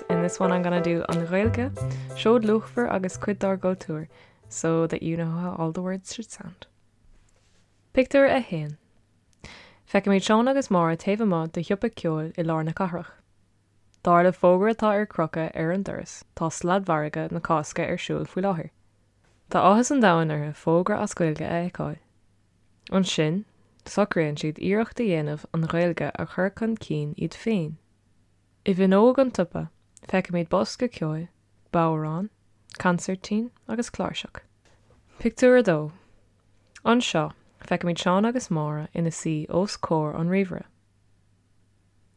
In this one I'm gonna do an Ghaeilge, seod luachmhar agus cuid dár gcultúr so that you know how all the words should sound. Pictiúr 1 Feicimid Seán agus Máire taobh amuigh de shiopa ceoil i lár na cathrach. Dar leis an bhfógra atá ar crochadh ar an doras tá sladmhargadh na Cásca ar siúl faoi láthair. Tá áthas an domhain orthu fógra as Gaeilge a fheiceáil. Ansin, socraíonn siad iarracht a dhéanamh an Ghaeilge a chur chun cinn iad féin. I bhfinneog an tsiopa, feicimid bosca ceoil, bodhrán, consairtín agus cláirseach. Pictiúr 2 Anseo, feicimid Seán agus Máire ina suí os comhair an ríomhaire.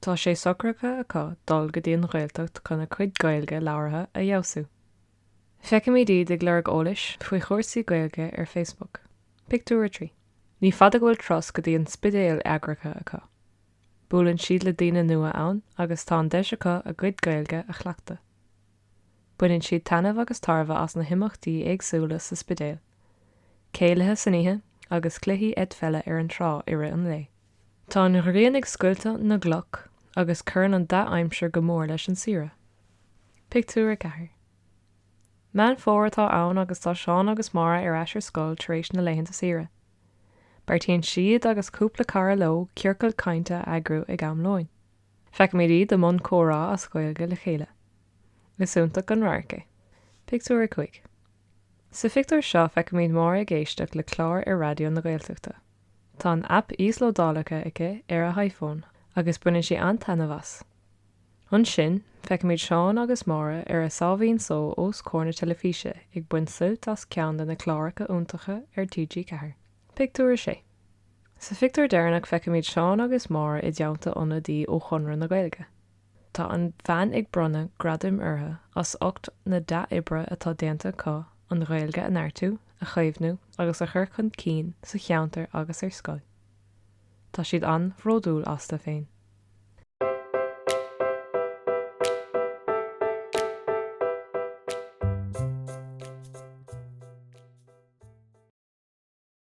Tá sé socraithe acu dul go dtí an Ghaeltacht chun a gcuid Gaeilge labhartha a fheabhsú. Feicimid iad ag lorg eolais faoi chúrsaí Gaeilge ar Facebook. Pictiúr 3 Ní fada go bhfuil turas go dtí an Spidéal eagraithe acu. Buaileann siad le daoine nua ann agus tá an deis acu a gcuid Gaeilge a chleachtadh. Baineann siad taitneamh agus tairbhe as na himeachtaí éagsúla sa Spidéal, céilithe san oíche agus cluichí eitpheile ar an trá i rith an lae. Tá an ghrian ag scoilteadh na gcloch agus cuireann an dea-aimsir go mór leis an saoire. Pictiúr 4 Meán Fómhair atá ann agus tá Seán agus Máire ar ais ar scoil tar éis na laethanta saoire. Beartaíonn siad agus cúpla cara leo ciorcal cainte a eagrú ag am lóin. Feicimid iad i mbun comhrá as Gaeilge le chéile. Is iontach an radharc é. Pictiúr 5 Sa phictiúr seo feicimid Máire ag éisteacht le clár ar Raidió na Gaeltachta. Tá an aip íoslódáilte aici ar a hiPhone agus baineann sí an-taitneamh as. Ansin, feicimid Seán agus Máire ar a sáimhín só os comhair na teilifíse ag baint suilt as ceann de na cláracha iontacha ar TG4. Pictiúr 6. Sa phictiúr deireanach feicimid Seán agus Máire i dteannta ionadaí ó Chonradh na Gaeilge. Tá an bhean ag bronnadh gradaim orthu as ucht na dea-oibre atá déanta acu an Ghaeilge a neartú, a chaomhnú agus a chur chun cinn sa cheantar agus ar scoil. Tá siad an-bhródúil astu féin.